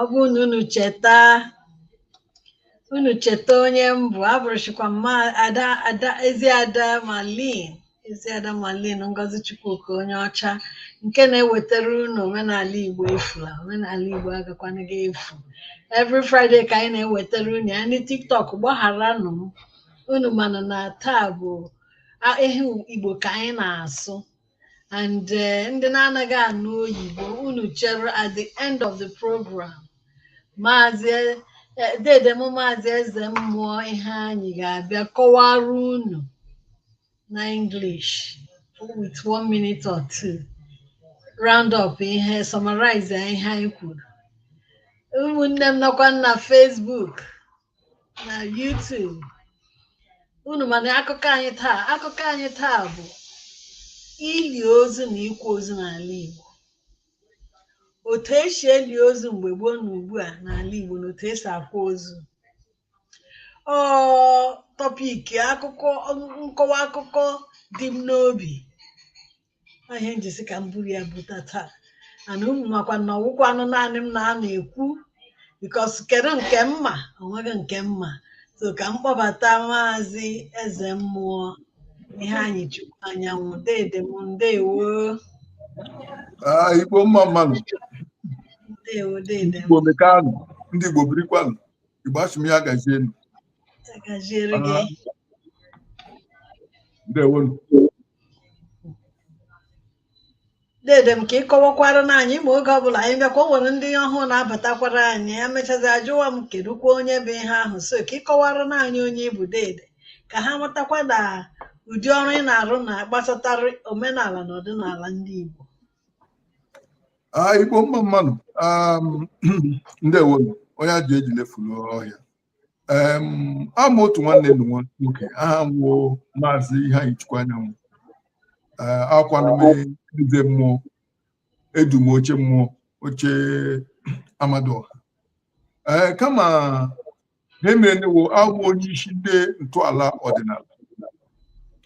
ọ bụrụ na unu cheta unu cheta onye m bụ abụrụchikwa m ada ada ezi ada malin ezi ada malin ngozi chukwuka onye ọcha nke na-ewetara unu omenala igbo efula omenala igbo agakwanaghị efu every friday ka anyị na-ewetara unu ya ndị tiktok gbagharanụ m unu mana na taa bụ a- ihe igbo ka anyị na-asụ and eh, ndị na-anaghị anụ oyibo unu chere at the end of the program maazị eh, dede m maazị eze mmụọ Iheanyị ga-abịa kọwara unu na English with one minute or two round up ihe summarize ihe anyị kwuru ụmụnne m nọkwa na Facebook na YouTube unu ma na akụkọ anyị taa akụkọ anyị taa bụ ili ozu na ịkwa ozu n'ala Igbo otu esi eli ozu mgbe gboo na ugbu a n'ala Igbo na otu esi akwa ozu ọ tọpiki akụkọ nkọwa akụkọ dị m n'obi Ọ ihe m ji sị ka m buru ya buta taa and unu makwa na ọ wụkwanụ naanị m na-anọ ekwu because kedu nke m ma onweghị nke m ma so ka m kpọbata maazị eze mmụọ Iheanyịchukwu Anyanwụ dede m ndewo Ah, Igbo mma mmanụ, ndewo dede m Igbo mekanụ, ndị Igbo birikwanụ, Igbo asị m ya gazienụ. Agaziere gị. ndewonu Dede m ka ị kọwakwaranụ anyị ị ma oge ọbụla anyị bịakwa o nwere ndị ọhụụ na-abatakwara anyị ha emechazi ajụwa m kedukwa onye bụ ihe ahụ so ka ị kọwaranụ anyị onye ị bụ dede ka ha matakwa na ụdị ọrụ ị na-arụ na gbasatara omenala na ọdịnala ndị Igbo Ah, igbo mma mmanụ um, ndewonu onye ajụ ejile furu ọhịa awụ m otu nwanne unu nwoke aha m wụ maazị Iheanyịchukwu Anyanwụ awụkwanụ m eze mmụọ edum oche mmụọ oche Amadịọha ee kama ihe merenụ wụ abụ m onye isi ndị ntọala ọdịnala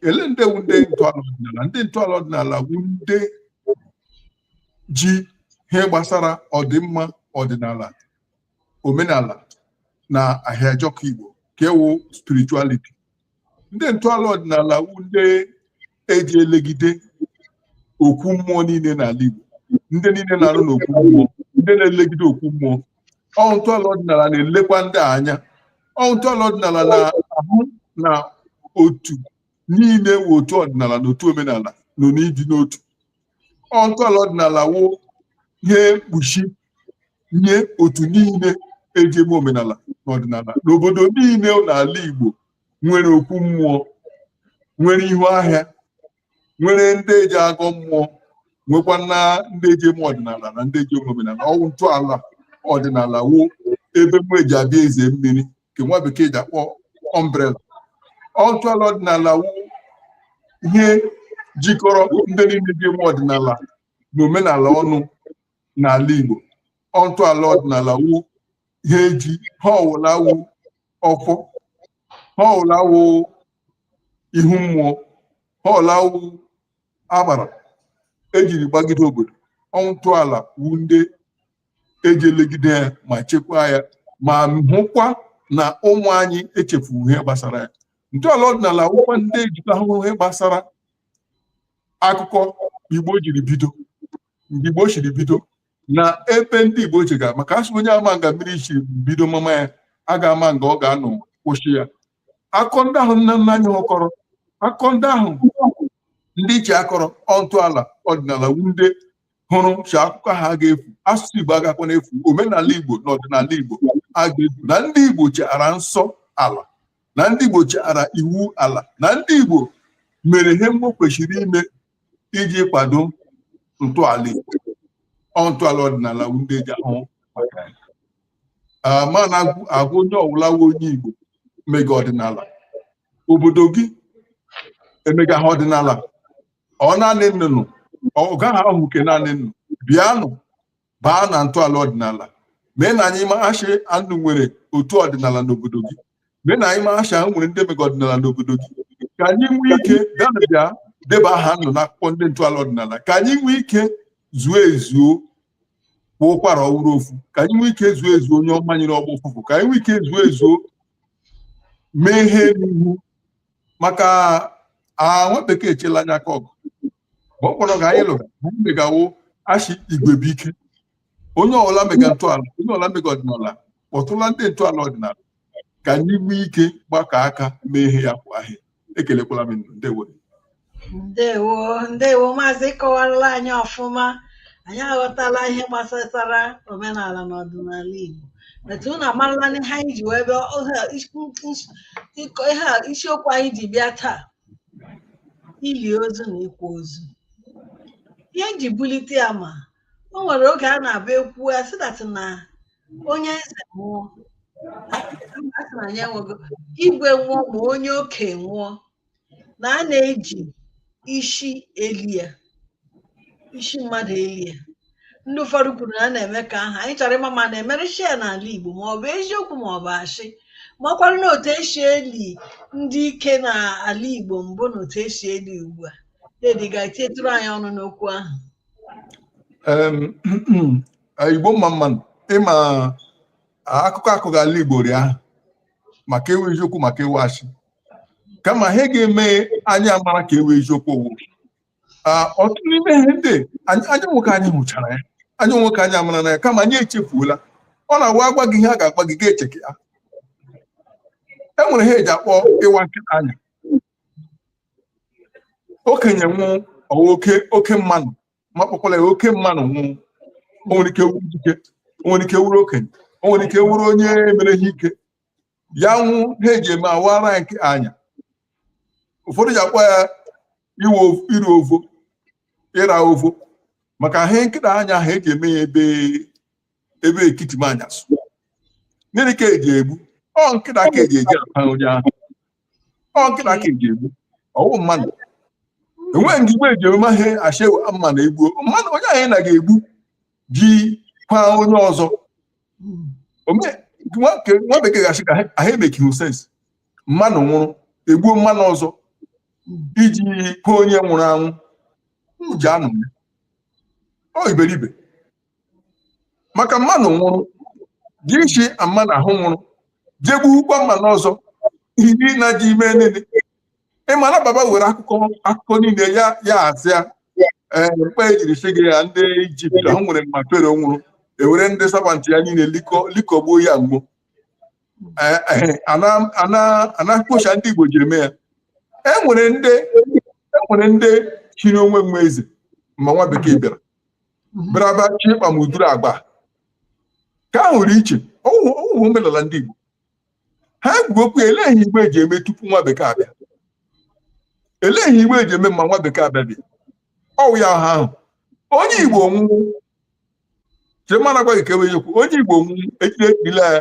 ele ndị wu ndị ntọala ọdịnala ndị ntọala ọdịnala wu ndị ji ihe gbasara ọdịmma ọdịnala omenala na ahịajọkụ igbo ka ọ wụ spirituality ndị ntọala ọdịnala wụ ndị eji elegide okwu mmụọ niile n'ala igbo ndị niile na-arụ n'okwu mmụọ ndị na-elegide okwu mmụọ ọ wụ ntọala ọdịnala na-elekwa ndị a anya ọ wụ ntọala ọdịnala na-ahụ na otu niile wụ otu ọdịnala na otu omenala nọ n'ịdị n'otu ọ wụ ntọala ọdịnala wụ ihe mkpuchi nye otu niile eji eme omenala na ọdịnala n'obodo niile n'ala Igbo nwere okwu mmụọ nwere ihu ahịa nwere ndị eji agọ mmụọ nwekwa na ndị eji eme ọdịnala na ndị eji eme omenala ọ wụ ntọala ọdịnala wụ ebe mụ eji abịa eze mmiri nke nwa bekee ji akpọ umbrella ọ ntọala ọdịnala wụ ihe jikọrọ ndị niile ji eme ọdịnala na omenala ọnụ n'ala Igbo ọ ntọala ọdịnala wụ ha eji ihe ọwụla wụ ọfọ ihe ọwụla wụ ihu mmụọ ihe ọwụla wụ agbara ejiri gbagide obodo ọ ntọala wụ ndị eji elegide ya ma chekwaa ya ma hụkwa na ụmụ anyị echefughị ihe gbasara ya ntọala ọdịnala wụkwa ndị ejikwa ahụ ihe gbasara akụkọ Igbo jiri bido mgbe Igbo shiri bido na ebe ndị Igbo jega maka a sị onye ama nga mmiri shi bido mama ya agaghị ama nga ọ ga-anọ kwụsị ya akụkọ ndị ahụ nna nna anyị ha kọrọ akụkọ ndị ahụ ndị ichie kọrọ ọ ntọala ọdịnala wụ ndị hụrụ shi akụkọ ha agaghị efu asụsụ Igbo agakwa na-efu omenala Igbo na ọdịnala Igbo agaghị efu na ndị Igbo chetara nsọ ala na ndị Igbo chetara iwu ala na ndị Igbo mere ihe Igbo kwesịrị ime iji kwado ntọala Igbo ọ ntọala ọdịnala wụ ndị eji ahụ maka ya Ah, m na-agwa onye ọwụla wụ onye Igbo mega ọdịnala obodo gị emega ha ọdịnala ọ naanị unu ọ gaghị awụ nke naanị unu bịanụ baa na ntọala ọdịnala mee na anyị maa shi unu nwere otu ọdịnala n'obodo gị mee na anyị maa shi unu nwere ndị mega ọdịnala n'obodo gị ka anyị nwee ike bịa na bịa deba aha unu n'akwụkwọ ndị ntọala ọdịnala ka anyị nwee ike zuo ezuo kwa ụkwara ọ wụrụ ofu ka anyị nwee ike zuo ezuo nyụọ mamịrị ọ gbọọ ụfụfụ ka anyị nwee ike zuo ezuo mee ihe n'ihu maka ah, nwa bekee echela anyị aka ọgụ ma ọ kpọrọ ka anyị lụga anyị megawo a sị igwe bụ ike onye ọbụla mega ntọala onye ọbụla mega ọdịnala kpọtụla ndị ntọala ọdịnala ka anyị nwee ike gbakọ aka mee ihe ya kwa ahịa ekelekwala m unu ndewo ndewo ndewo maazị kọwarala anyị ọfụma anyị aghọtala ihe gbasatara omenala na ọdịnala Igbo etu unu amarala ihe anyị ji wee bịa ohe- is- is- ịkọ- ihe a isiokwu anyị ji bịa taa ili ozu na ịkwa ozu ihe m ji bulite ya ma o nwere oge a na-abụ e kwuo a sị that na onye eze nwụọ a sị na ya enwego igwe nwụọ ma onye oke nwụọ na a na-eji isi eli ya isi mmadụ eli ya ndị ụfọdụ kwuru na a na-eme ka ahụ anyị chọrọ ịma ma na-emere shia n'ala Igbo ma ọ bụ eziokwu ma ọ bụ ashị makwara na otu esi eli ndị ike n'ala Igbo mbụ na otu esi eli ugbu a Daddy ga-etinyetụrụ anyị ọnụ n'okwu ahụ Igbo mma mma nụ ị ma akụkọ akọga ala Igbo ri ahụ ma nke wụ eziokwu ma nke wụ ashị kama ihe ga-eme anyị amara nke wụ eziokwu ọ wụ ọtụtụ n'ime ihe ndị anyị nwee ike anyị hụchara ya anyị nwee ike anyị amara na ya kama anyị echefuola ọ na-awụ a gwa gị ihe a ga-agwa gị gị echete ya e nwere ihe eji akpọ ịwa nkịta anya okenye nwụọ ọ wụ oke oke mmanụ ma kpọkwala ya oke mmanụ nwụọ o nwere ike wụrụ dike o nwere ike wụrụ okenye o nwere ike wụrụ onye mere ihe ike ya nwụọ ihe eji eme awaara nkịta anya ụfọdụ ji akpọ ya iwe of- iri ovo ịra ovo maka ịwa nkịta anya ha eji eme ya ebe ebe ekiti m anyasụ gịnị ka eji egbu ọ nkịta ka eji eji akwa onye ahụ ọ nkịta ka eji egbu ọ wụ mmadụ enweghị ndị Igbo eji eme ihe ashewe mma na egbuo mmadụ onye ahụ ị na ga-egbu ji kwa onye ọzọ nwa bekee ga-ashị ka ha emekighị sense mmanụ nwụrụ egbuo mmanụ ọzọ iji kwaa onye nwụrụ anwụ ji anụ ya ọ iberibe maka mmanụ nwụrụ gị isi mmanụ ahụ nwụrụ je gbuokwa mmanụ ọzọ ihe na ji ime niile ị ma na Bible nwere akụkọ akụkọ niile ya ya azịa ee mkpa ejiri si gị ya ndị Egypt ha nwere ma Pharaoh nwụrụ e were ndị servant ya niile likọ likọgbuo ya gboo Ee, ee, ana ana ana kpocha ndị igbo jiri mee ya e nwere ndị e nwere ndị chiri onwe nwe eze ma nwa bekee bịara bịara bịa chi ịkpa ma uduru agba ka a hụrụ iche ọwụhụ ọwụhụ omenala ndị igbo ha kwuru okwu ya elee ihe igbo eji eme tupu nwa bekee abịa elee ihe igbo eji eme ma nwa bekee abịa bịa ọwụ ya ha ahụ onye igbo nwụrụ chemana agwa gị ka enweghị okwu onye igbo nwụọ ejide ejila ya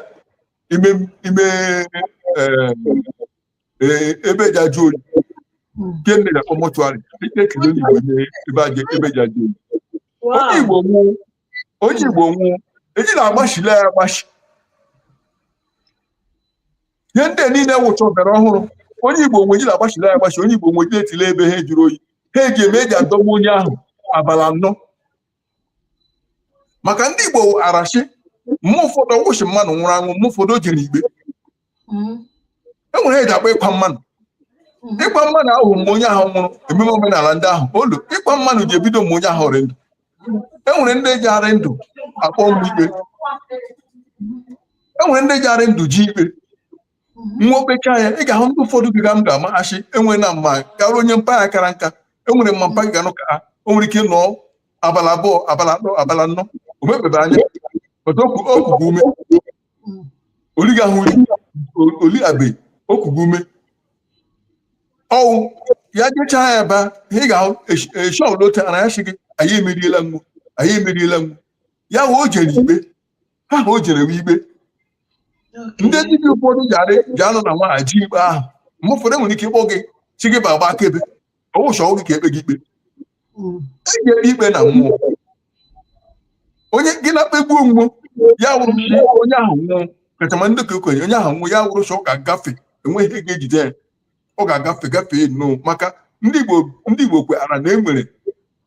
ime ime eh, eh, ebe eji ajụ oyi nke nne na mọchụarị ejide ekele onye igbo nye ebe aja ebe eji ajụ oyi onye igbo nwụọ onye igbo nwụọ eji na-agbachile ya agbachi ihe ndị niile wụcha ọbịara ọhụrụ onye igbo nwụọ eji na-agbachile ya agbachi onye igbo nwụọ eji na-etile ebe ha jụrụ oyi ihe eji eme eji adọgbu onye ahụ abala anọ maka ndị igbo mara shị mgbe ụfọdụ ọwụ shị mmadụ nwụrụ anwụ mgbe ụfọdụ o jere ikpe hmm. e nwere ihe eji akpọ ịkwa mmanụ hmm. ịkwa mmanụ ahụ mgbe onye ahụ nwụrụ ememe omenala ndị ahụ olu ịkwa mmanụ ji ebido mgbe onye ahụ rị ndụ e nwere ndị ji arị ndụ akpọ mgbe ikpe e nwere ndị ji arị ndụ eje ikpe ma o kpechaa ya ị ga-ahụ ndị ụfọdụ biga m ga-ama shị enwere na mma gara onye mpa ya kara nka enwere mgbe mpa ga-anọ ka o nwere ike nọọ abala abụọ abala atọ abala anọ o mepebeghị anya o kughị ume oliga ahụ oli abe o kughị ume ọwụ ya jechaa ya ba ha ị ga-ahụ eshọ lota na ya sị gị anyị emeriela mmụọ anyị emeriela mmụọ ya wụ o jere ikpe ihe ahụ o jere wụ ikpe ndị dibịa ụfọdụ ji anọ n'ụwa eje ikpe ahụ mgbe ụfọdụ enwere ike ịkpọ gị sị gị bịa gbaa akaebe ọwụ shị ọwụ gị ka ekpe gị ikpe hmm. ị ga ekpe ikpe na mmụọ onye gị na-ekpegbuo mmụọ ya wụrụ onye ahụ nwụọ kachama ndị ka okenye onye ahụ nwụọ ya wụrụ shị ọ ga-agafe enweghị ihe ga-ejide ya ọ ga-agafe gafee nnọọ maka ndị Igbo ndị Igbo kwetara na e nwere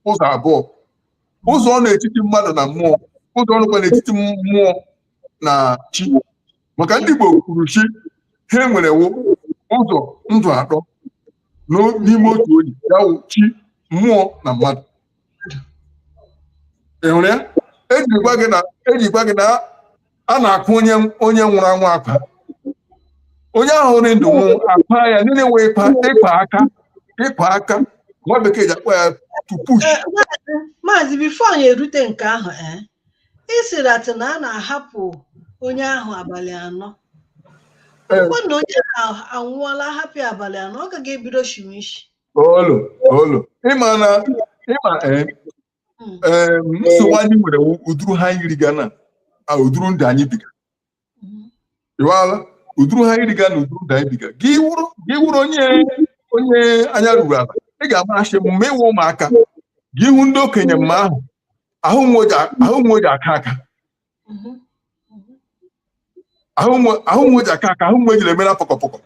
ụzọ abụọ ụzọ nọ n'etiti mmadụ na mmụọ ụzọ nọkwa n'etiti mmụọ na chi maka ndị Igbo kwuru shị ihe e nwere wụ ụzọ ndụ atọ n'ime otu onye ya wụ chi mmụọ na mmadụ enwere ejikwa gị na eji agwa gị na a na-akwa onye onye nwụrụ anwụ akwa onye ahụ rị ndụ nwụ akwa ya niile wụ ịkwa ịkwa aka ịkwa aka nwa bekee ji akpọ ya to push eh, maazị bifo anyị erute nke ahụ eh? ị sịrị na a na-ahapụ onye ahụ abalị anọ ọkwa na onye ahụ anwụọla ahapụ ya abalị anọ ọ gaghị ebido shiwe isi olu olu ịma na ịma ee Mm. ee nsogbu anyị nwere wụ ụdụrụ ihe anyị riga na a, ụdụrụ ndụ anyị biga ịwala uduru ha iriga na uduru da ibiga gị wụrụ gị wụrụ onye onye anya ruru ala ị ga-amarasị m ma ịwụ ụmụaka gị ịhụ ndị okenye mma ahụ ahụ we eji aka aka ahụ we eji aka aka ahụ we ejiri emere pọkọpọkọ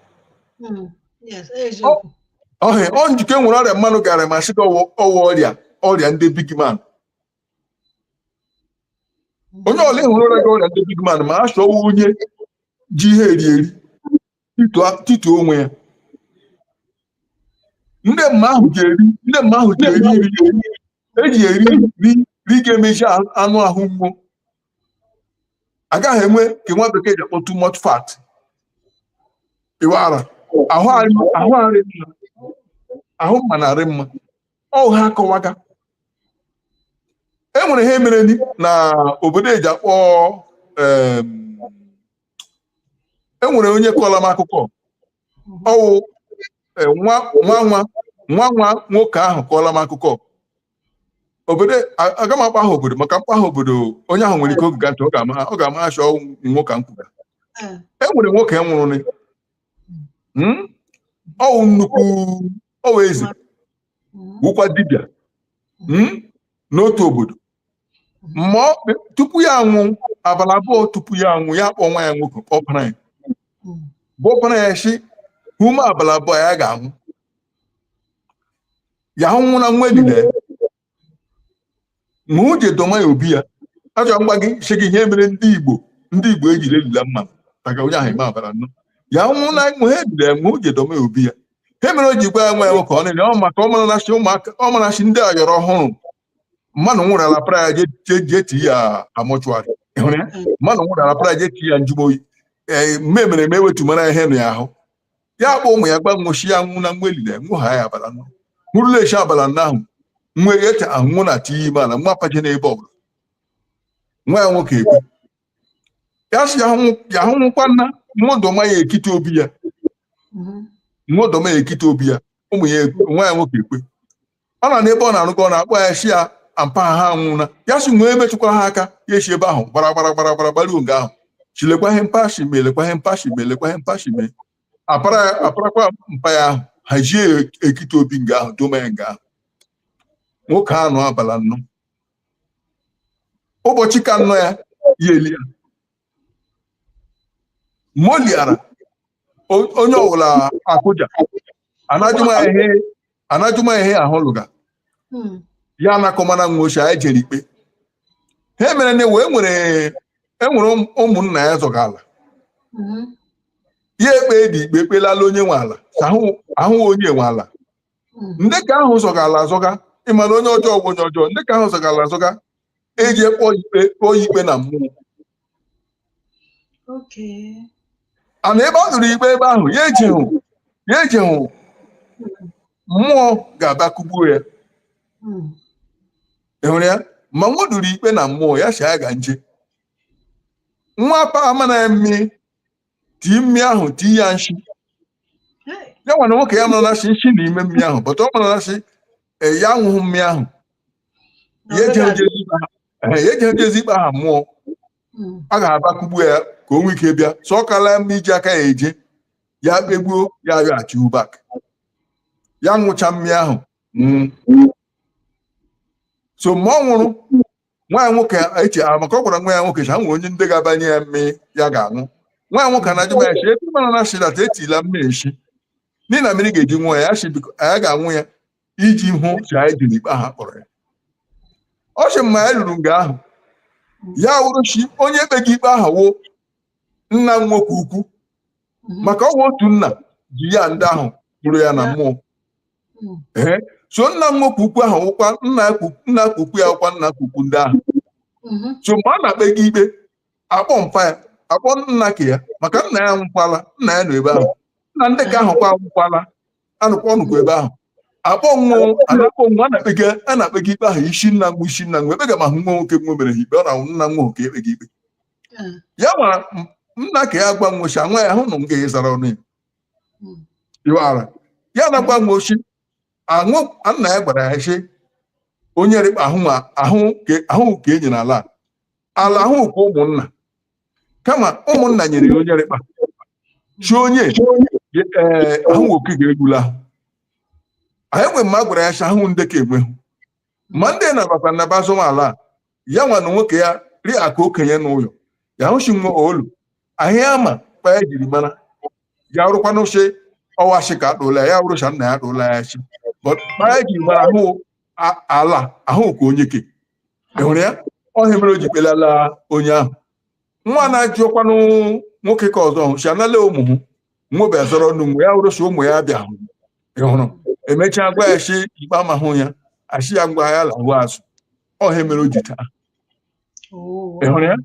ọhịa ọ njikọ e nwere ọrịa mmanụ ga-arịa ma sị gị ọ wụ ọrịa ọrịa ndị big man onye ọla ị hụrụ rịaga ọrịa ndị big man ma a chọwa onye ji ihe eri eri tituo onwe ya ndị mma ahụ ji eri ga-emezi anụ ahụ mmụọ agaghị enwe ka nwa bekee ji akpọ too much fat ịwara ahụ ahụ mmanụ arị mma ọ wụ ha akọwaga e nwere ihe mere na obodo eji akpọ e nwere onye kọọla m akụkọ ọ wụ e, nwa nwa nwa nwa nwoke ahụ kọọla m akụkọ obodo aga m akpa aha obodo maka m kpaa aha obodo onye ahụ nwere ike o gega ntị ọ ga-ama shi ọ nwoke m kwuga e nwere nwoke nwụrụ hmm? ọ wụ nnukwu ọ wụ eze wụkwa dibịa mm, n'otu obodo ma ọ kpe- tupu ya anwụ abalị abụọ tupu ya anwụ ya kpọọ nwa ya nwoke kpọọ ọpara ya bụ ọpara ya si ume abalị abụọ ya ga-anwụ ya nwụla we elile we eje doma ya obi ya achọrọ m ịgwa gị sị gị ihe mere ndị igbo ndị igbo ejiri elula mma maka onye ahụ ime abalị anọ ya nwụọna mụ ha edure ya ma o ji edoma ya obi ya ihe mere o ji gwa ya nwa ya nwoke ọ na-ele ọ maka ọ mara na-achị ụmụaka ọ mara achị ndị ayọrọ ọhụrụ mmadụ nwụrụla a para ya je- je je ti ya mortuary Ị hụrụ ya? mmadụ nwụrụla a para ya je ti ya njụ oyi ee mme mere eme wetumara ya ihe nụ ya ahụ ya kpọ ụmụ ya gwa wo shi ya nwụọna we elile wo haa ya abalị anọ o rule echi abalị anọ ahụ we eche anwụ na tinye ime ala we apajena ebe ọbụla nwa ya nwoke ekwe ya si ya hụ nwụkwana wo doma ya ekite obi ya wo doma ya ekite obi ya ụmụ ya nwa ya nwoke ekwe ọ na n'ebe ọ na-arụkọ ọ na-akpọ ya shi ya ampa ha anwụna ya si nwee metụkwara ha aka ya esi ebe ahụ gbara gbara gbara gbara gbaruo nga ahụ chilekwa ihe mpa shi mee lekwa ihe mpa shi mee lekwa ihe mpa shi mee apara ya aparakwa mpa ya ahụ ha ji ya ekite obi nga ahụ doma ya nga ahụ nwoke ahụ nọ abala nnọ ụbọchị ka nnọ ya ya eli ya moliara onye ọwụla akụja ana-ajụma ihe ahụ lụga hmm. ya ana-akọma na nwochi anyị jere ikpe ha mere na wee nwere enwere um, ụmụnna ya zọga ala hmm. ya ekpedị ikpe kpelala onye nwe ala ahụ onye nwe ala ndị ka ahụ zọga ala azọga ịmara onye ọjọọ bụ onye ọjọọ ndị ka ahụ zọga ala azọga eje kpọ ikpe kpọọ ya ikpe na mmụọ Okay. ana ebe o duru ikpe ebe ahụ ya ejehụ ya ejehụ mmụọ ga-abịa kụgbuo ya Mm. ị hụrụ ya ma nwa duru ikpe na mmụọ ya sị ya ga nje nwa pa amana ya mmiri tii mmiri ahụ tii ya nshi ya nwana nwoke ya mara na sị nshi na ime mmiri ahụ but ọ mara na sị ee ya aṅụghị mmiri ahụ ya ejeghị oje ezi ikpe ha ee, ya ejeghị oje ezi ikpe ha mmụọ a ga-abịa kụgbu ya ka o nwee ike bịa so ọ kala mma iji aka ya eje ya kpegbuo ya aghachi back ya ṅụcha mmiri ahụ nwụọ so mgbe ọ nwụrụ nwa ya nwoke eche a maka ọ gwara nwa ya nwoke cha nwere onye ndị ga-abanye ya mmiri ya ga-aṅụ nwa ya nwoke na-ajụma ya chi ebe mara na shilat etila mmiri nshi n'ihi na mmiri ga-eji nwa ya chi biko anyị ga-aṅụ ya iji hụ chi anyị jiri ikpe aha kpọrọ ya ọ sị mma ya ruru nga ahụ ya wụrụ chi onye kpega ikpe aha wụ nna m nwoke ukwu mhm. maka ọ wụ otu nna ji ya ndị ahụ kpụrụ ya na mmụọ mhm. so nna m nwoke ukwu ahụ wụkwa nna ukwu ya wụkwa nna ukwu ndị ahụ mhm. so mgbe a na-ekpega ikpe akpọ mpa ya akpọ nna ka ya maka nna ya nwụkwala nna ya nọ ebe ahụ nna ndị ka ahụ kwa nwụkwala anwụkwa ọ nọkwa ebe ahụ akpọ nwa a na-akpọ nwa na-ekpega a na-ekpega ikpe ahụ isi nna nwa isi nna nwa ekpega ma hụ nwa nwoke nwa mere ha ikpe ọ na nna nwa nwoke ekpega ikpe hmm. ya ma nna ka ya gwa nwochi anwa ya hụ na m ga-ezara ọnụ ya hmm. ị mara ya na-agwa nwochi ahụ nna ya gwara ya sị onye rịkpa ahụ ma ahụ ka e nyere ala ala ahụ ka ụmụnna kama ụmụnna nyere ya onye rịkpa chi onye eh, ahụ nwoke ga-egbula ahụ anyị nwe mma gwara ya sị ahụ ndị ka enwehụ ma ndị na-abata na-aba azọma ala a ya nwa na nwoke ya rị ka okenye n'ụlọ ya hụchi nwa olu ahịa ama kpa ya jiri mara ya rụkwanụ chi ọwachi ka akpụla ya rụcha nna ya akpụla ya chi but kpa ya jiri mara ahụ a- ala ahụ ka onye ke enwere ya ọ ihe mere o ji kpelala onye ahụ nwa na-ajụ ọkwanụ nwoke ke ọzọ hụ si anala ụmụ hụ nwobe azọrọ ọnụ mgbe ya hụrụ si ụmụ ya bịa hụ ị hụrụ emechaa gwa ya si ikpe amahụ ya asị ya ngwa ya lahụ azụ ọ ya mere o ji taa ị hụrụ ya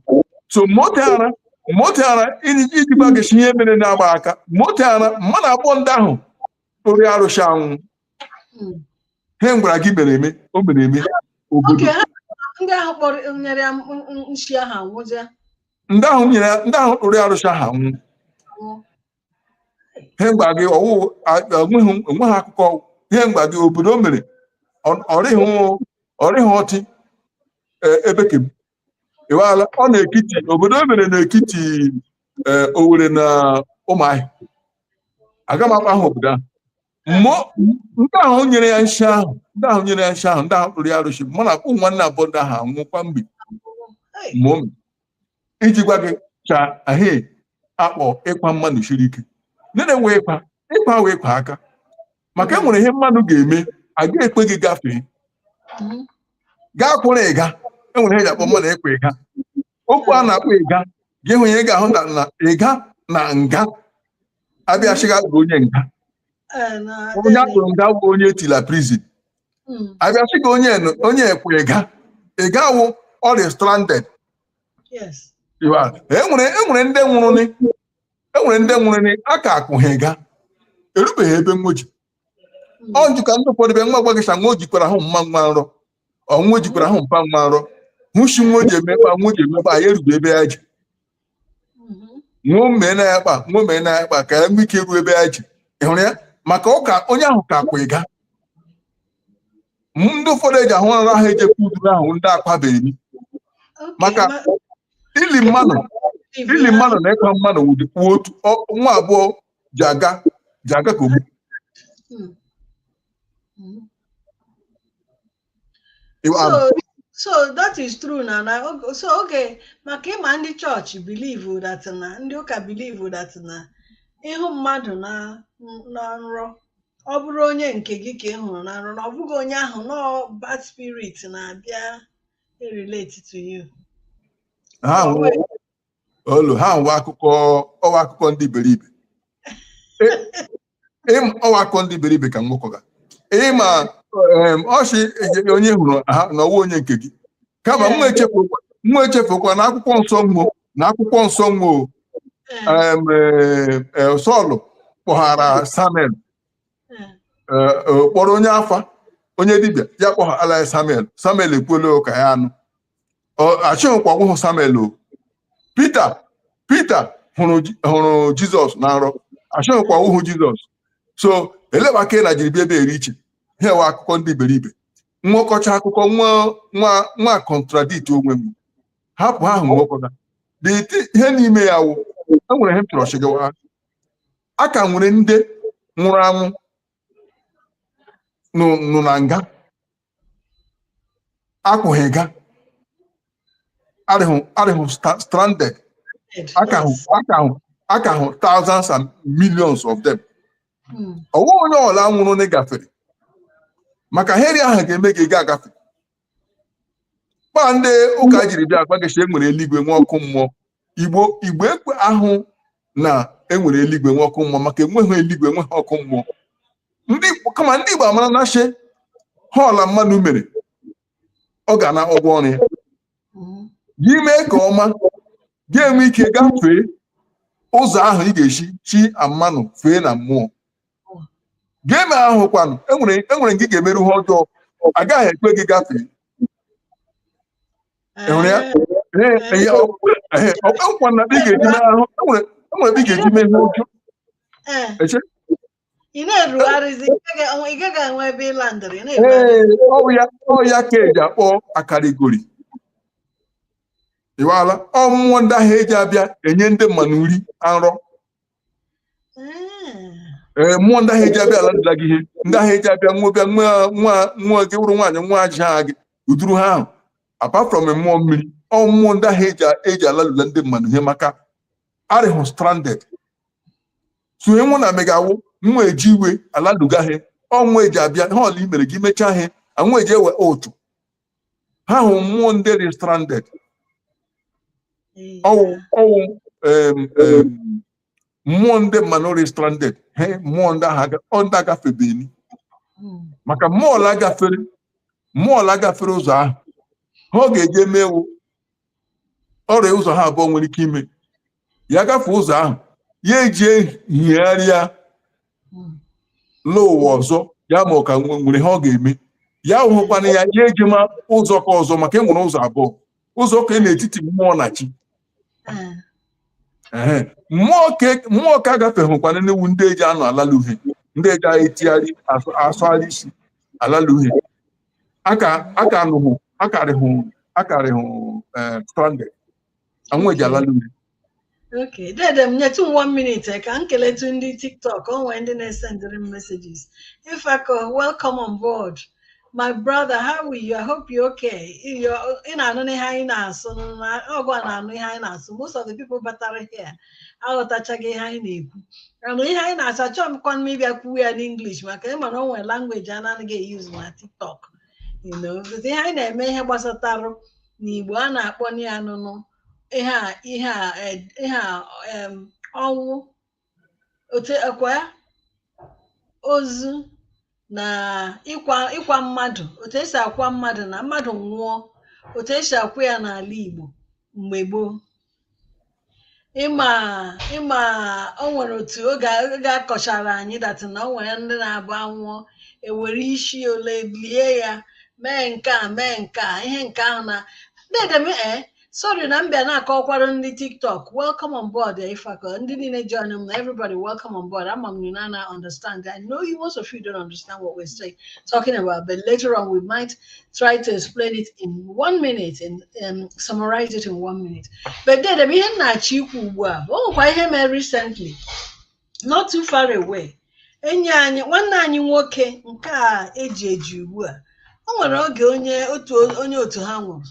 so moto ara moto ara iji iji gwa gị si ihe mere na-agba aka moto ara mmadụ abụọ ndị ahụ kpụrụ arụsị anwụ Hmm. ihe m gwara gị mere eme o mere eme obodo Oke ha ndị ahụ kpọrọ nyere ya m- m- m- nshi ahụ anwụzie ndị ahụ nyere ya- ndị ahụ kpụrụ arụsị ahụ anwụ anwụ. ihe m gwara gị ọ wụ a- enweghị enweghị akụkọ ihe m gwara gị obodo o mere ọ- ọ rịghị ọ rịghị ọtị e, ebe ke m ịwaala ọ na ekiti obodo o mere na ekiti ee eh, Owere na Ụmụahịa aga m akpa aha obodo ahụ ndị ahụ nyere ya nshi ahụ ndị ahụ nyere ya nshi ahụ ndị ahụ kpụrụ ya arụsị mana ụmụ nwanne abụọ ndị ahụ anwụkwa mgbe mụ iji gwa gị si ihe ahụ a kpọ ịkwa mmadụ siri ike nene wee kwa ịkwa wee kwa aka maka e nwere ihe mmadụ ga-eme a ga-ekpe gị gafee gaa kwụrụ ịga e nwere ihe ji akpọ mmadụ ịkwụ ịga okwu a na-akpọ ịga gị hụ ihe ị ga-ahụ na na ịga na nga abịa chịga bụ onye nga onye a kpụrụ nga bụ onye e tila prison abịa chịga onye nụ- onye kwụ ịga ịga wụ ọ rị stranded Yes. Iwa, e nwere e nwere ndị nwụrụ ni e nwere ndị nwụrụ na a ka akụ ha ịga erubeghị ebe nwoji ọ njụ ka ndị ụfọdụ bịa nwa gwa gị sị nwa o jikwara ahụ mma nwa nrọ nwa o jikwara ahụ mpa nwa nrọ hụchi nwa o ji emekpa nwa o ji emekpa ya erube ebe ya ji nwa mee na ya kpa nwa mee na ya kpa ka ya nwee ike ruo ebe ya ji ị hụrụ ya maka ụka onye ahụ ka akwụ ịga ndị ụfọdụ eji ahụ nrọ ahụ ejekwa uduru ahụ ndị akwabeghị maka ili mmadụ ili mmadụ na ịkwa mmadụ wụdịkwu otu nwa abụọ ji aga ji aga ka ogbu hmm. hmm. so that is true na na so oge maka ịma ndị chọọchị believe that na ndị ụka believe that na ịhụ mmadụ na nrọ ọ bụrụ onye nke gị ka ị hụrụ na nrọ na ọ bụghị onye ahụ na bad spirit na-abịa relate to you ha nwe- olu ha nwe akụkọ ọ wụ akụkọ ndị iberibe Ị- ịm- ọ wụ akụkọ ndị iberibe ka m gwakwa gị ịma em, ọ sị e- onye hụrụ ha na ọ wụ onye nke gị kama nwa echefukwa nwa echefukwa na akwụkwọ nsọ mmụọ na akwụkwọ nsọ wa o em, eh, eh, Sọl kpọghara Samuel eh, eh, kpọrọ onye afa onye dibịa ya kpọghara ya Samuel Samuel ekwuola ụka ya anụ Ọ- ashịhụkwa ọ wụhụ Samuel o Pita Pita hụrụ Ji- hụrụ Jizọs na nrọ ashịhụkwa ọ wụhụ Jizọs so eleba ka ị na jiri bịa ebe eri iche ihe wa akụkọ ndị iberibe nwekọcha akụkọ nwa nwa nwa contradict onwe wa hapụ he ahụ nwekwara dị iti ihe n'ime ya wụ e nwere ihe m chọrọ ịshị gị ụwa a ka nwere ndị nwụrụ anwụ nọ nọ na nga akpụghị ga arịhụ arịhụ sta- stranded aka hụ aka hụ aka hụ thousands and millions of them Mm. ọwụ onye ọla nwụrụ na-agaferị maka he rị ahụ ga-eme gị ga agafe kpa ndị ụka jiri bịa agwa gị shị enwere eluigwe nwee ọkụ mmụọ igbo igbo ekwehụ na enwere eluigwe nwee ọkụ mmụọ maka enweghị eluigwe enweghị ọkụ mmụọ ndị kama ndị igbo amara na shị he ọla mmanụ mere ọ ga-ana ụgwọ ọrụ ya gị mee ka ọma gị enwe ike gafee ụzọ ahụ ị ga-esi chi mmanụ fee na mmụọ gị emere ahụ kwanụ enwere enwere nga ị ga-emeru ihe ọjọọ agaghị ekwe gị gafee enwere ya Ee, ee, ya, ọ- ee, ọ bụ nkwa na ị ga-eji mee ahụ enwere enwere ebe ị ga-eji mee ihe ọjọọ Ee, eche ị na-erugharịzi ị gaghị enwe- ị gaghị enwe ebe ịla ndị rị na-erugharị ee ọ bụ ya ọ ya ka eji akpọ akarịgori ịwala ọ mmụọ ndị ahụ eji abịa enye ndị mmanụ nri na nrọ ee eh, mmụọ ndị ahụ eji abịa ala lula gị ihe ndị ahụ eji abịa nwa bịa nwa nwa nwa gị wụrụ nwaanyị nwa aja gị uduru ha ahụ apart from mmụọ mmiri ọ mmụọ ndị ahụ eji eji ala lula ndị mmanụ ihe maka arịhụ stranded so ihe wa na-emega wụ nwa eji iwe ala lu gị he ọ nwa eji abịa he ọla i mere gị mechaa he a nwa eji ewe otu ha hụ mmụọ ndị rị stranded ọwụ ọwụ em, em, mmụọ ndị mmanụ rị stranded he mmụọ ndị ahụ aga- ọ ndị agafebeni maka mmụọ ọla gafere mmụọ ọla gafere ụzọ ahụ he ọ ga-eje eme wụ ọ rị ụzọ he abụọ nwere ike ime ya gafee ụzọ ahụ ya ejie higharịa n'ụwa ọzọ ya ma ọ ka nwe- nwere ihe ọ ga-eme ya hụkwana ya ya ejema ụzọ ka ọzọ maka e nwere ụzọ abụọ ụzọ ka e n'etiti mmụọ na chi Ah, Ehe. mmụọ ka- mmụọ ka agafeghịkwana nị wụ ndị eji anọ alalu he ndị eji anyị etigharị asụ- asụgharị isi alalu he aka aka nọhụ akarịhụ akarịhụ eh, stranded anwụ eji ala n'ume Okay, dede m nyetụ m one minute eh, ka m keletu ndị TikTok o nwee ndị na-esendịrị m messages. Ifako, welcome on board. My brother, how are you? I hope you're okay. You're, ị na-anụ ihe anyị na-asụ na ọgụ a na-anụ ihe anyị na-asụ. Most of the people batara here aghọtachaghị ihe anyị na-ekwu. Anụ ihe anyị na-asụ achọghịkwanụ m ịbịa kwuwe ya n'English maka ị ma na o nwere language a na-anaghị eyuzu na TikTok. you know because ihe anyị na-eme ihe gbasatarụ n'Igbo a na-akpọ ya anụnụ ihe a ihe a eh, ihe a em, ọnwụ otu ịkwa ozu na ịkwa ịkwa mmadụ otu e si akwa mmadụ na mmadụ nwụọ otu e si akwa ya n'ala Igbo mgbe gboo ị ma ị ma o nwere otu oge ga-akọchara anyị that na o nwere ndị na-abụ a nwụọ e were isi ole lie ya mee nke a mee nke a ihe nke ahụ na dede m e eh, sorry na m bịa na-akọkwara ndị TikTok welcome on board eh, Ifako ndị niile joinụ m na everybody welcome on board ama m na unu anaghị understand i know you most of you don't understand what we're saying talking about but later on we might try to explain it in one minute and um, summarize it in one minute. But dede m, ihe m na-achọ ikwu ugbu a, o nwekwa ihe mere recently, not too far away. Enyi anyị, nwanne anyị nwoke nke a e ji eji ugbu a, o nwere oge onye otu onye otu ha nwụrụ.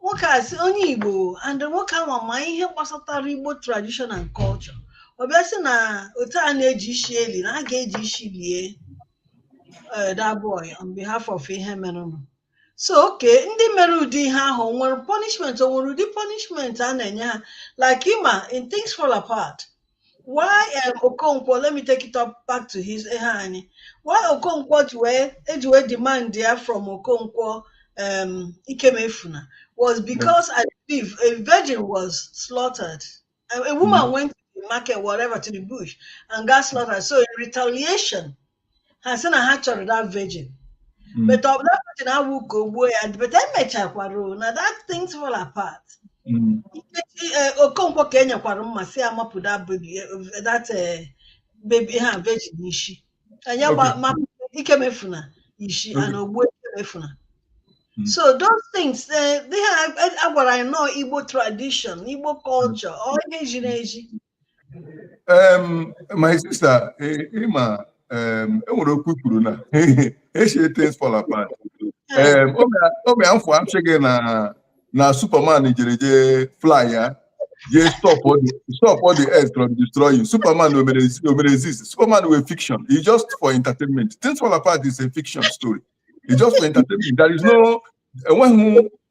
nwoke a sị onye Igbo and nwoke a nwa ma ihe gbasatara Igbo tradition and culture ọ bịa sị na otu a na-eji isi eli na a ga-eji isi lie eh, that boy on behalf of ihe merenụ so okay ndị mere ụdị ihe ahụ o nwere punishment o nwere ụdị punishment a na-enye ha like ị ma in Things Fall Apart why um, Okonkwo let me take it up back to his ihe anyị why Okonkwo ji wee eji wee demand ya from Okonkwo um, Ikemefuna was because I believe a virgin was slaughtered a, a woman mm. went to the market whatever to the bush and got slaughtered so in retaliation ha sị na ha chọrọ that virgin Mm. but ọ that virgin awụ ka o gbuo ya but emechakwara o, na that Things Fall Apart Mm. Nkechi, eh, Okonkwo ka e nyekwara mma sị ya mapụ that baby eh, that eh, baby ha virgin isi anyị Okay. gba- mapụ Ikemefuna isi Okay. and o gbuo Ikemefuna Mm. so those things eh, ndị ha a gwara anyị na ọọ Igbo tradition Igbo culture ọ ezi na ezi Um, my sister, ị ma, eh, eh, um, e nwere okwu kwuru n'ishi Things Fall Apart. Um, oge afọ a sị gị na na Superman jere jee fly ya jee stop all the earth from destroying. Superman o mere exist. Superman wụ a fiction. It's just for entertainment. Things Fall Apart is a fiction story. It's just for entertainment. There is no enweghị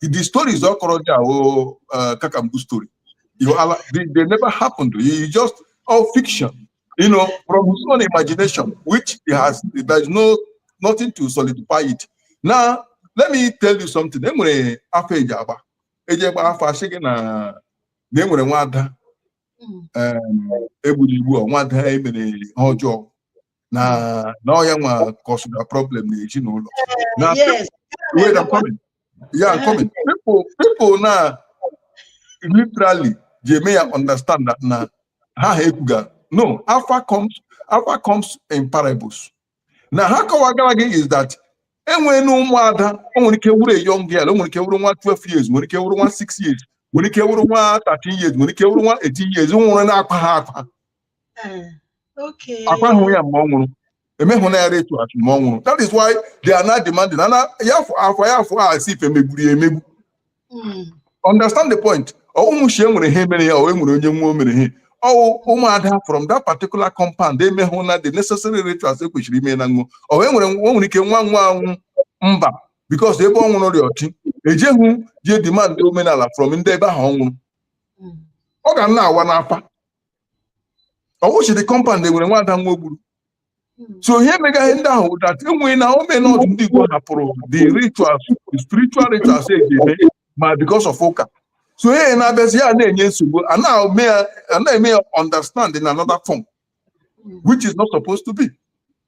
the stories ọ kọrọ ndị ahụ uh, cock and bull story you ala they, they never happened you just all fiction you know from his own imagination which he has there is no nothing to solidify it now let me tell you something enwere afa eji agba eji agba afa asị gị na na enwere nwada egburu egbu nwada emere ihe ọjọọ na na ọ ya nwa cause the problem na ezinụlọ na yes wait I'm coming yeah I'm coming people people na literally ji eme ya understand that na ha ha ekwuga no afa comes afa comes in parables na ha kọwagara gị is that enwere na ụmụada o nwere ike wuru a young girl o nwere ike wuru nwa 12 years nwere ike wuru nwa 6 years nwere ike wuru nwa 13 years nwere ike wuru nwa 18 years nwụrụ na akwahụ akwa akwahụ ya mgbe ọ nwụrụ emehụ na ya rituals mgbe ọ nwụrụ that is why they are now demanding ana ya afa ya afa asị ife megburu ya emegbu hmm. understand the point ọ wụhụ sị enwere ihe mere ya o enwere onye nwa o mere ihe ọ wụ ụmụada from that particular compound emehụ na the necessary rituals ekwesịrị ime na nwụ o enwere o nwere ike nwa nwa anwụ mba because ebe ọ nwụrụ ndị ochie ejeghụ je demand omenala from ndị ebe ahụ ọ nwụrụ hmm. ọ ga na-awa n'afa ọ wụ sị the compound enwere nwada nwa egburu so ihe mega ihe ndị ahụ wụ that enwere na omenala ndị Igbo hapụrụ the rituals the spiritual rituals e ji eme ma because of ụka so ihe na-abịazi ya na-enye nsogbu a na-eme ya a na-eme ya understand in another form which is not supposed to be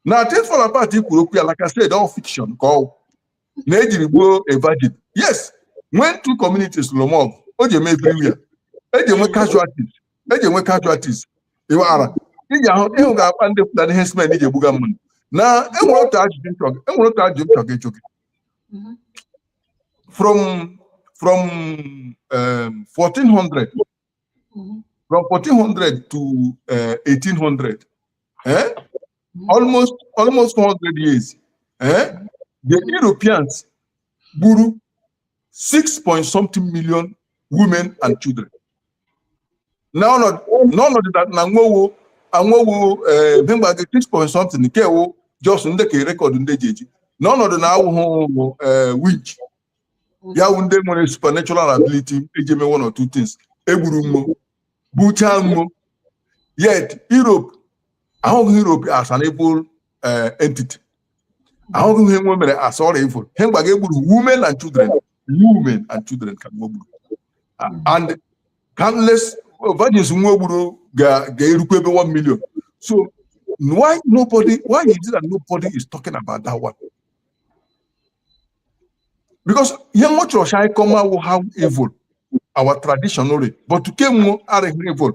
na things fall apart i kwuru okwu ya like I said all fiction ka ọ na ejiri gbuo a virgin yes when two communities lụma ọgụ o ji eme everywhere eji enwe casualties eji enwe casualties ịwaghara ị ji ahụ ị hụga kpa ndị Fulani herdsmen ji egbuga mmadụ na enwere otu ajụjụ m chọga enwere otu ajụjụ m chọga ịjụ gị from from um, 1400 mm-hmm. from 1400 to uh, 1800 eh? Mm-hmm. almost almost 400 years eh? the Europeans gburu 6 point something million women and children n'ọnọdụ na nwe wụ a nwe wụ eh, m gwa gị 6 point something nke wụ just ndị ka e rekọdụ ndị e ji eji n'ọnọdụ na ha wụ eh, winch ya wụ ndị nwere supernatural ability eji eme one or two things egburu nwo gbuchaa nwo yet Europe ahụghị Europe as an evil eh, entity ahụghị ihe nwe mere as a real evil he m gwaga egburu women and children women and children ka nwe gburu and countless virgins nwe gburu ga-erukwa ebe 1 million so why nobody why is it that nobody is talking about that one because ihe nwe chọrọ sị anyị kọma wụ how evil our tradition rị but ke nwe arịghị evil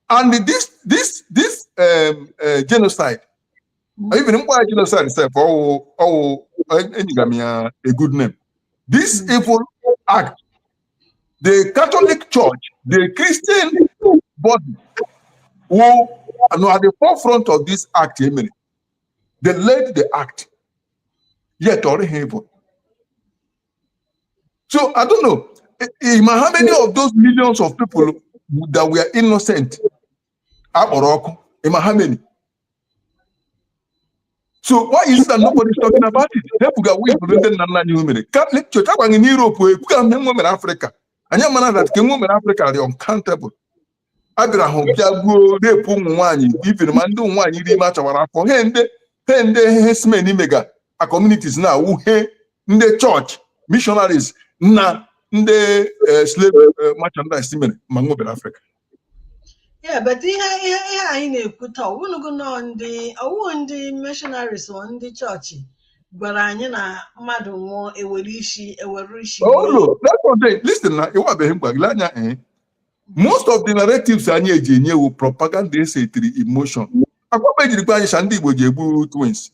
and this this this um, uh, genocide even m kpọọ ya genocide sef ọwụ ọwụ enyega m ya a good name this evil act the catholic church the christian body who nọ at the forefront of this act emere they led the act yet ọ dịghị evil so i don't know ma how many of those millions of people that were innocent akpọrọ ọkụ ma how many so why is it that nobody is talking about it ebuga we bụ ndị nna nna anyị mere chọọchị agwaghị na europe ebuga nwe mere afrịka anyị ama na that ke nwe mere afrịka rị uncountable a bịara hụ bịa gbuo repu ụmụ nwaanyị ibiri ma ndị ụmụ nwaanyị rị ime achawara afọ he ndị he ndị herdsmen mega a communities na awụ he ndị chọọchị missionaries na ndị eh, slave eh, merchandise mere ma nwe bịara afrịka Yeah, but ihe ihe ihe anyị na-ekwu taa ọwụlụgo nọ ndị ọwụ ndị missionaries ọ ndị chọọchị gwara anyị na mmadụ nwụọ ewere isi ewere isi mee. olu listen na ịwabeghị m gwa gị lee anya eh, most of the narratives anyị eji enye wụ propaganda esetiri in motion akwaba ejiri gwa anyị sị ndị Igbo ji egbu twins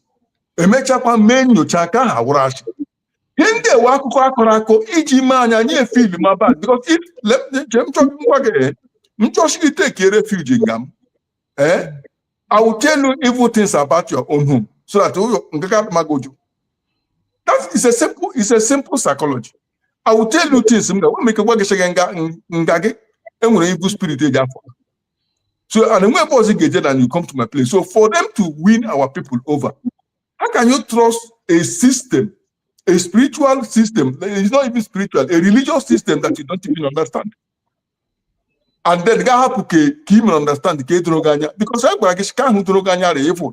emechakwa mee nyocha ka a hụrụ sị ihe ndị a wụ akụkọ akọrọ akọ iji mee anyị anyị efil ma bad because if let me che m chọ ngwa gị eh, m chọọ sị gị take a refuge nga m eh I will tell you evil things about your own home so that ụyọ nke ka magoju that is a simple is a simple psychology I will tell you things m ga nwere ike gwa gị sị gị nga nga gị enwere evil spirit eji afọ so and enwe ebe ọzọ ga-eje na you come to my place so for them to win our people over how can you trust a system a spiritual system it's not even spiritual a religious system that you don't even understand and then gị ahapụ ke ke ị mere understand ke doro gị anya because a gwara gị sị ke ahụ doro gị anya rị evil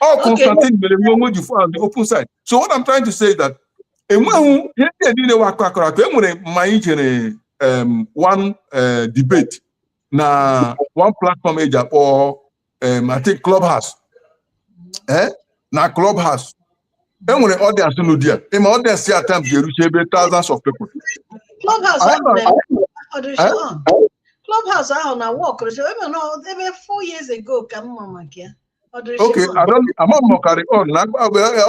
All okay. Constantine mere nwe onwe ji found the open side. So what I'm trying to say is that enweghị ihe ndị niile wụ akụkọ akọrọ akọ enwere ma anyị jere um, one uh, debate na one platform eji akpọ um, I think clubhouse eh? na clubhouse e nwere audience n'ụdị a ị ma audience ya at times ga-erucha ebe thousands of people Clubhouse Anyị ahụ nọ- na-eme ọdụ Eh? Sean. Clubhouse ahụ na work rụsịrị ebe nọ ebe four years ago ka m ma maka ya ọdụ okay Sean. I don't ama m ma ọ ka rị on na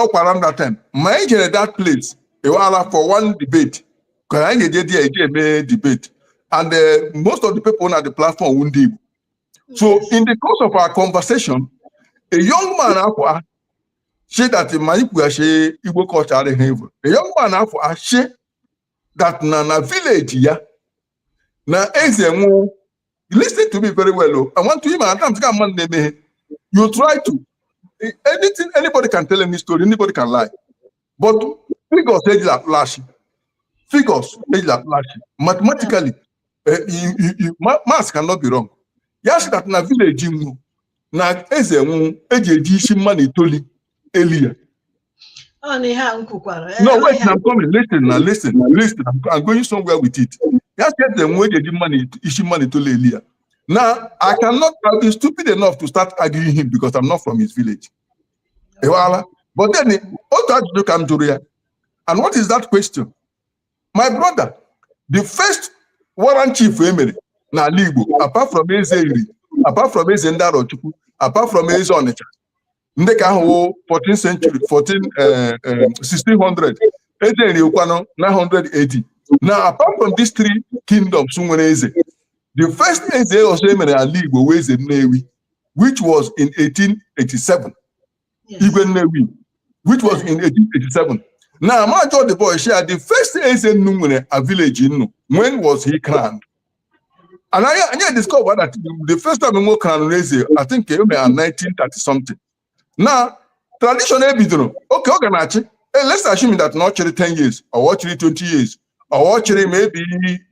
ọ kwa around that time ma anyị jere that place ịwala for one debate ka anyị ga-eje there eje eme debate and eh, most of the people na the platform wụ ndị Igbo so in the course of our conversation a young man akwa sị that ma ikwughachi igbo culture adịghị evil the young man ahụ asị that na na village ya na eze nwụọ listen to me very well o i want to him at times ka mmadụ na-emeghe you try to anything anybody can tell any story anybody can lie but figures ejila atụ asị figures ejila atụ asị mathematically eh, you- you- you- ma- maths cannot be wrong ya sị that na village nwo na eze nwụrụ eji eji isi mmadụ itoli eli ya Ọ na ihe a m kwukwara. eh, no ọ wait ihe na a- I'm coming listen na listen na listen I'm, I'm going somewhere with it ya sị eze nwụrụ eji eji mmadụ it- isi mmadụ itoli eli ya now I cannot I'll be stupid enough to start arguing him because I'm not from his village ị ghọtala but then otu ajụjụ ka m jụrụ ya and what is that question my brother the first warrant chief e mere n'ala Igbo apart from eze Nri apart from eze ndị Arochukwu apart from eze Ọnịcha ndị nke ahụ wụ 14 century 14 1600 eh, eh, eze Nri kwanụ 980 now apart from these three kingdoms nwere eze the first eze ọzọ e mere n'ala Igbo wụ eze Nnewi which was in 1887 Igwe Nnewi, which was in 1887. Now, m ajụọ the boy sị ya the first Eze unu nwere na village unu. When was he crowned? And I, and I discovered that the first time nwo crowned Eze, I think came in 1930 something. Now, tradition ebidoro, okay, ọ ga na-achị. Eh, Let's assume that na ọ chịrị 10 years, or ọ chịrị 20 years, or ọ chịrị maybe,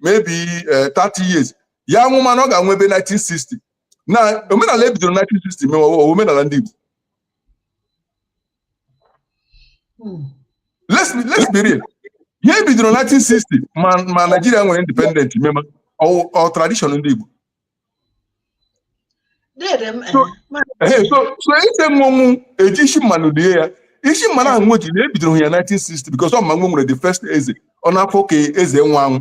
maybe uh, 30 years. Ya wụ mana ọ ga-anwụ ebe 1960. na omenala ebidoro 1960 mewa omenala ndị Igbo hmm. let's be let's be real ihe ebidoro 1960 ma ma Naijiria nwere independent mema ọ tradition ndị Igbo eh, so eze nwụọ eji isi mmadụ lie ya isi mmadụ ahụ nwo ji na ebidoro ya 1960 because ọ ma nwo nwere the first eze ọ n'afọ ka eze nwo anwụ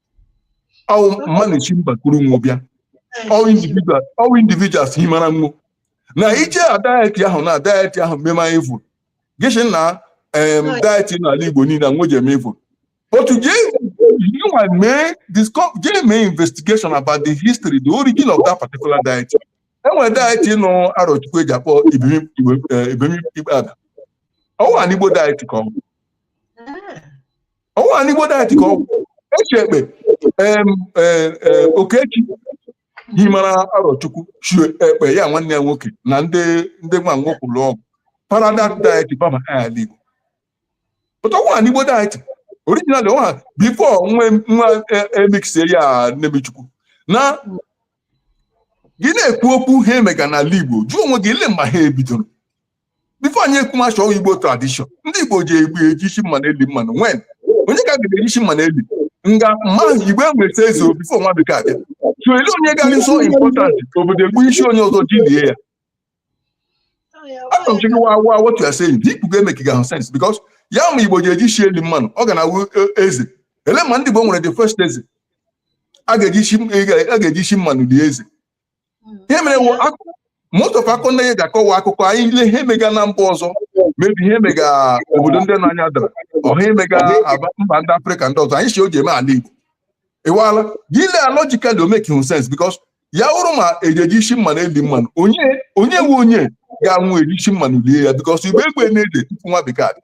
ọwụ mmadụ si mba kuru nwo bịa ọwụ individual ọwụ individuals himara nwo na ihe a deity ahụ na deity ahụ mema evil gị sị na em deity n'ala igbo niile nwo ji eme evil but je you and mee disco- je mee investigation about the history the origin of that particular deity enwere deity nọ Arọchukwu eji akpọ Ibini Ukp- eh, Ibini Ukpabi ọwụ an Igbo deity ka ọ bụ ọ wụghị an Igbo deity ka ọ wụ e si Ekpe em, eh, eh, Okechi himara Arọchukwu si Ekpe ya nwanne ya nwoke na ndị ndị nwa nwo kuru ọ wụ para that deity bama ala igbo but ọ wụghị an Igbo deity originally ọ wụghị before nwo nwo eh, emixie ya nnebichukwu now gị na-ekwu okwu ha emega n'ala igbo jụọ onwe gị elee mgbe ha ebidoro before anyị ekwumacha ọ wụhụ igbo tradition ndị igbo ji egbu eji isi mmanụ eli mmanụ wen onye ka a ga-eji isi mmanụ eli nga mma ahụ igbo enweta eze before nwa bekee abịa so ele onye ga-arị so important obodo egbu isi onye ọzọ ji lie ya achọrọ m chike wa wa what you are saying dị ị kwuga emekegahụ sense because ya ma igbo ji eji isi eli mmanụ ọ ga na awụ e- eze ele ma ndị igbo nwere the first eze a ga-eji isi a ga-eji isi mmanụ lie eze ihe mere wụ akụkọ most of akụkọ ndị ga akọwa akụkọ anyị ile ihe mega na mba ọzọ maybe ihe mega obodo ndị nọ anya dara ọha emega aba mba ndị afrịka ndị ọzọ anyị si o ji eme ala igbo ịwala gị lee ya logically o mekehụ sense because ya wụrụ ma eji eji isi mmanụ eli mmanụ onye onye nwe onye ga-anwụ eji isi mmanụ lie ya because igbo enwe eze tupu nwa bekee abịa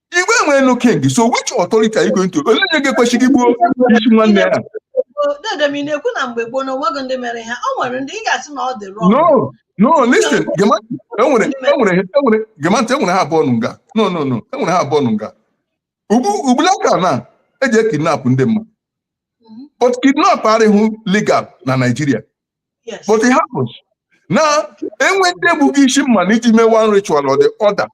Igbo nwere no king, so which authority are you going to? Onye onye ga-ekwe sị gị gbuo isi nwanne ya? Dedem, ị na-ekwu na mgbe gboo na onweghị ndị mere ha, o nwere ndị ị ga-asị na ọ dị wrong. No, no, listen, Gemantị, enwere enwere enwere gee m ntị enwere ihe abụọ nọ nga. No, no, no, enwere ihe abụọ nọ nga. Ugbu ugbulaka na eji ekidnap ndị mmadụ. Mhm. But kidnap arịhụ legal na Naịjirịa. Yes. but it happens na enwe ndị egbu isi mmanụ iji mee one ritual or the other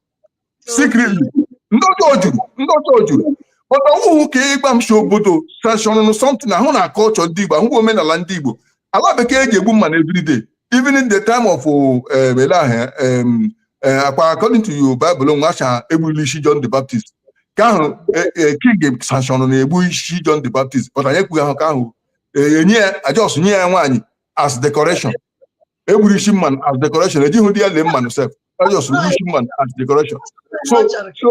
secretly ndị ọjọọ juru ndị ọjọọ juru but ọwụhụ ka ị ga-asị obodo sanction something ahụ na culture ndị Igbo ọwụhụ omenala ndị Igbo ala bekee ji egbu mmanụ everyday even in the time of um, ele ahụ um, eh, akwa according to your Bible nwa acha egburu isi John the Baptist ke ahụ eh, eh, king sanction na-egbu isi John the Baptist but anyị ekwugahụ ke ahụ enye ya e just nye ya nwaanyị as decoration egburu isi mmanụ as decoration ejighị dị ya lie mmanụ sef e just gburu isi mmanụ as decoration so so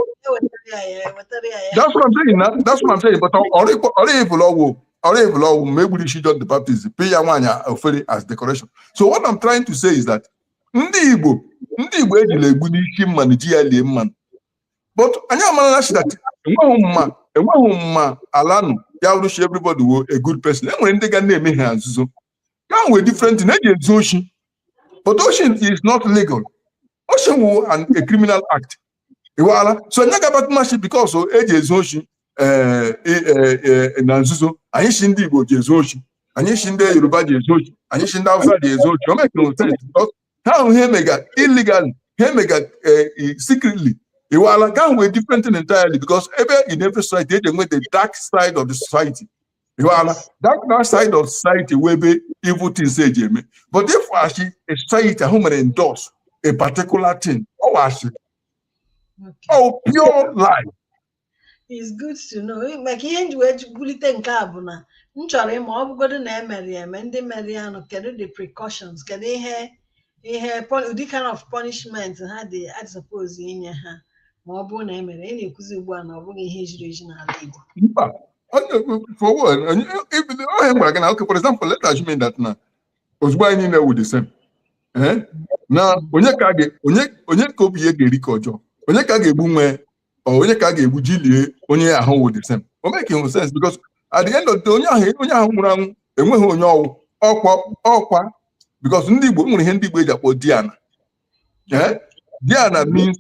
that's what I'm saying na that's what I'm saying but ọrịbụla ọgwụ ọrịbụla ọgwụ ma egburu isi John the Baptist pee ya nwaanyị efere as decoration so what I'm trying to say is that ndị Igbo ndị Igbo ejila egbu n'isi mmanụ ji ya lie mmanụ but anyị amarala shi that enweghị mba enweghị mba ala nụ ya wụrụ shi everybody wụ a good person enwere ndị ga na-eme ihe nzuzo ke ahụ wụ a different thing eji ezu oshi but oshi is not legal oshi wụ an a criminal act iwaala so nye gabat mashi because eji ezu oshi eh, eh, eh, na nzuzo anyị shi ndị igbo ji ezu oshi anyị shi ndị yoruba ji ezu oshi anyị shi ndị hausa ji ezu oshi o mekere sense ihe ahụ ihe emega illegally ihe emega eh, secretly iwala ke ahụ wụ a different thing entirely because ebe in every society eji enwe the dark side of the society iwala dark dark side of society wụ ebe evil things ji eme but if a shi society ahụ mere endorse a particular thing ọ wụ ashị ọ pure lie is good to know maka ihe m ji wee bulite nke a bụ na m chọrọ ịma ọ bụgodu na e mere eme ndị mere ya nụ kedu the precautions kedu ihe ihe ụdị kind of punishment ha dị suppose inye ha ma ọ bụrụ na emere ị na-ekwuzi ugbu a na ọ bụghị ihe jiri eji n'ala Igbo mba forward ibido ohe gwara gị na okay for example let assume that na ozugbo anyị niile wụ the same na onye ka obi ya ga-eri ka ọjọọ onye ka a ga-egbu nwe onye ka a ga-egbu ji lie onye ahụ wụ the same o makehụ sense because at the end of the onye ahụ onye ahụ nwụrụ anwụ enweghị onye ọ wụ ọkwa ọkwa because ndị Igbo nwere ihe ndị Igbo ji akpọ Diana eh? Diana means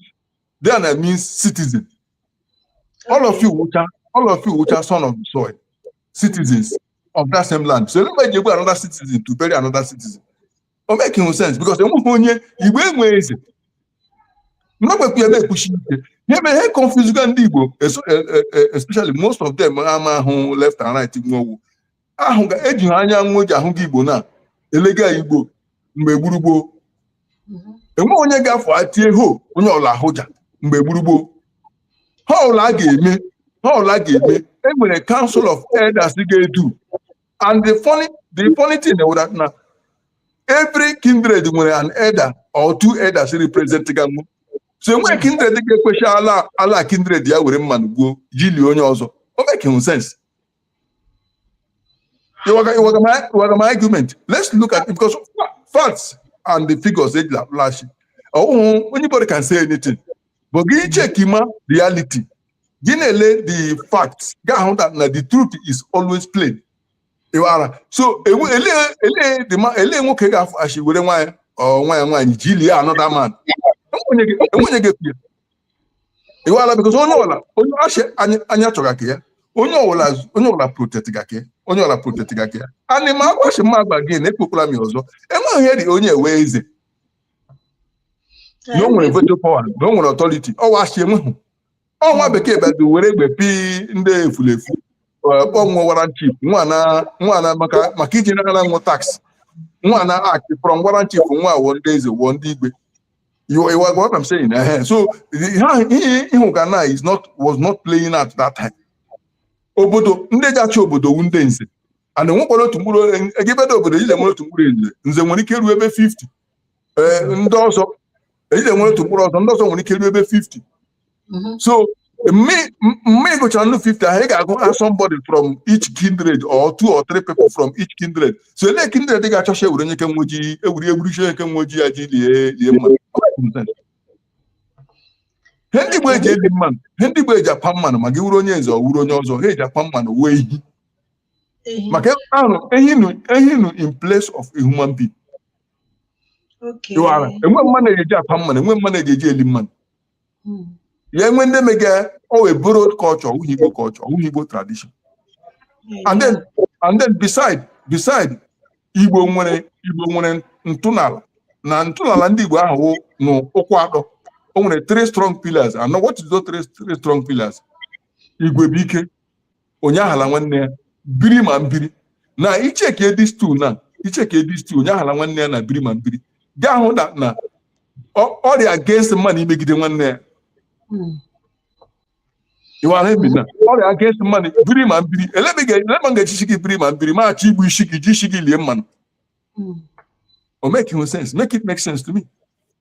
Diana means citizen all of you wụcha all of you wụcha son of the soil citizens of that same land so elee ebe e ji egbu another citizen to bury another citizen o makehụ sense because enweghị onye igbo enwe eze m ga-ekwukwa ya ekwusi ike ihe mere ihe confusega ndị igbo eso- e- e- e- especially most of them amahụ left and right nwewu ahụ ga eji ha anya nwa ji ahụ gị igbo na-elega igbo mgbe gboo gboo enweghị onye ga-afụta tie ho onye ọla ahụja mgbe gboo gboo ihe ọla a ga-eme ihe ọla a ga-eme enwere council of elders ga-edu and the funny the funny thing wụ that na every kindred nwere an elder or two elders representga wụ so enweghị kindred ga-ekwe shi ala ala kindred ya were mmanụ gbuo ji lie onye ọzọ o makehụ sense it was, it, was my, it was my argument let's look at it because facts and the figures age flash oh anybody can say anything but gị checkima reality gị na-ele the fact ga-ahụ that na the truth is always plain ị ghọtara so enwe- elee elee the ma- elee nwoke ga-afụ ashi were nwa ya or nwa ya nwaanyị ji lie another man enwenyeghị enwenyeghị efu ya ị ghọtara because onye ọla onye ashi anya anya chọga ka ya onye ọwụla onye ọwụla protect ga ka ya onye ọwụla protect ga ka ya anị ma agwa shi m na-agwa gị na ekwukwala m ya ọzọ enweghị ihe dị onye wụ eze na o nwere veto power na o nwere authority ọ wụ ashi enweghị ọ nwa bekee bịazi were egbe pick ndị efulefu kpọọ wụ warrant chief nwana maka iji nara wụ tax nwana akị from warrant chief nwa wo ndị eze wo ndị igwe you you are what I'm saying. Uh, so ị hụga na is not was not playing at that time. Obodo ndị ji achị obodo wụ ndị nze and nwekwara otu mkpụrụ egibeda obodo ije nwere otu mkpụrụ nze nze nwere ike ruo ebe 50 ee ndị ọzọ ejide nwere otu mkpụrụ ọzọ ndị ọzọ nwere ike ruo ebe 50 mhm. so mme ị gụchara nnu 50 ahụ ị ga-agụ ha somebody from each kindred or two or three people from each kindred so ele kindred ị ga-achọcha ewere nye kenwe ji ewuri egburu chi nke nwe ji ya ji lie lie mma ihe ndị Igbo eji eli mmanụ ihe ndị Igbo eji akwa mmanụ ma gị wụrụ onye nze ọ wụrụ onye ọzọ ihe eji akwa mmanụ wụ ehi maka ahụ ehi nọ in place of a human being ịwara enweghị mmanụ eji akwa mmanụ enweghị mmanụ eji eli mmanụ hmm. ya enwe ndị mega ọ wụ borrowed culture ọ wụghị igbo culture ọ wụghị igbo tradition and then and then beside beside igbo nwere igbo nwere ntọnala na ntọnala ndị igbo ahụ na ụkwụ atọ o nwere three strong pillars and what is those three strong pillars igwe bụ ike onye aghala nwanne ya biri ma mbiri na i checkie these two na i checkie these two onye aghala nwanne ya na biri ma mbiri ga-ahụ na na ọ- ọ rị against mmadụ imegide nwanne ya ịwara ebi na ọ rị against mmadụ biri ma mbiri elebe ga- elebe m ga-eji sị gị biri ma mbiri ma achọ igbu isi gị ji isi gị lie mmanụ o makehụ sense make it make sense to me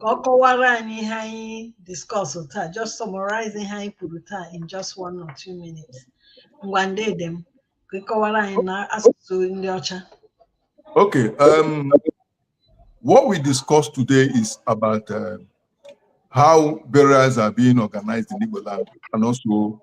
ka ọ kọwara anyị ihe anyị discuss taa just summarize ihe anyị kwuru taa in just one or two minutes ngwanụ dede m ka ị kọwara anyị na asụsụ ndị ọcha Okay. Um, what we discussed today is about uh, how burials are being organized in Igbo land and also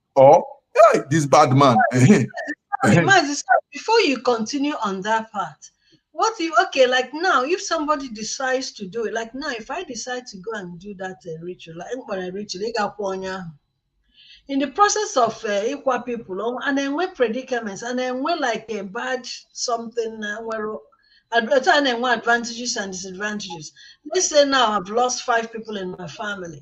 or hey, this bad man. Before you continue on that part, what if okay like now if somebody decides to do it like now if i decide to go and do that uh, ritual like mkpara ritual ị ga-akwụ onye ahụ in the process of uh, ịkwa people um, a na-enwe predicaments a na-enwe like a bad something na uh, nwere otu a na-enwe advantages and disadvantages let's say now i've lost five people in my family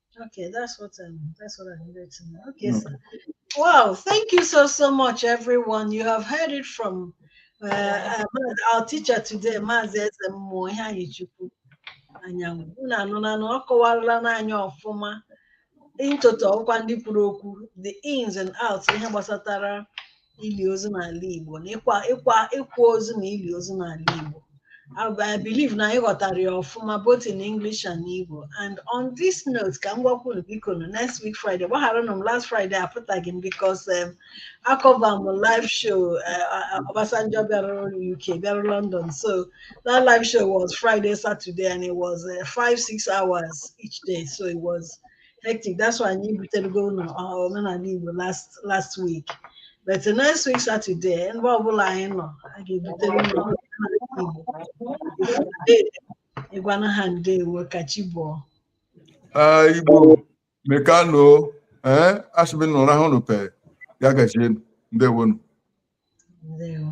Okay, that's what um, that's what I needed to know. Okay, okay. sir. Wow, thank you so so much, everyone. You have heard it from uh, our teacher today, Maazị Eze Mmụọ Iheanyịchukwu Anyanwụ unu anụla na ọ kọwarala anyị ọfụma in toto ọkwa ndị kwuru okwu the ins and outs ihe gbasatara ili ozu n'ala Igbo na ịkwa ịkwa ịkwa ozu na ili ozu n'ala Igbo I I believe na anyị ghọtara ya ọfụma both in English and Igbo and on this note ka m gwakwa unu biko nụ next week Friday gbagharanụ m last Friday apụtaghị m because um, acover m live show uh, uh, Obasanjo bịara UK bịara London so that live show was Friday Saturday and it was uh, five six hours each day so it was hectic that's why anyị ebutereghị unu omenala Igbo last last week but next week Saturday ebe ọbụla anyị nọ a ga-ebutere unu ngwanụ ndewo ka chi bọọ Igbo mekanụ ee eh, asị m nụrụ ahụ nụpe ya gazie ndewonu ndewo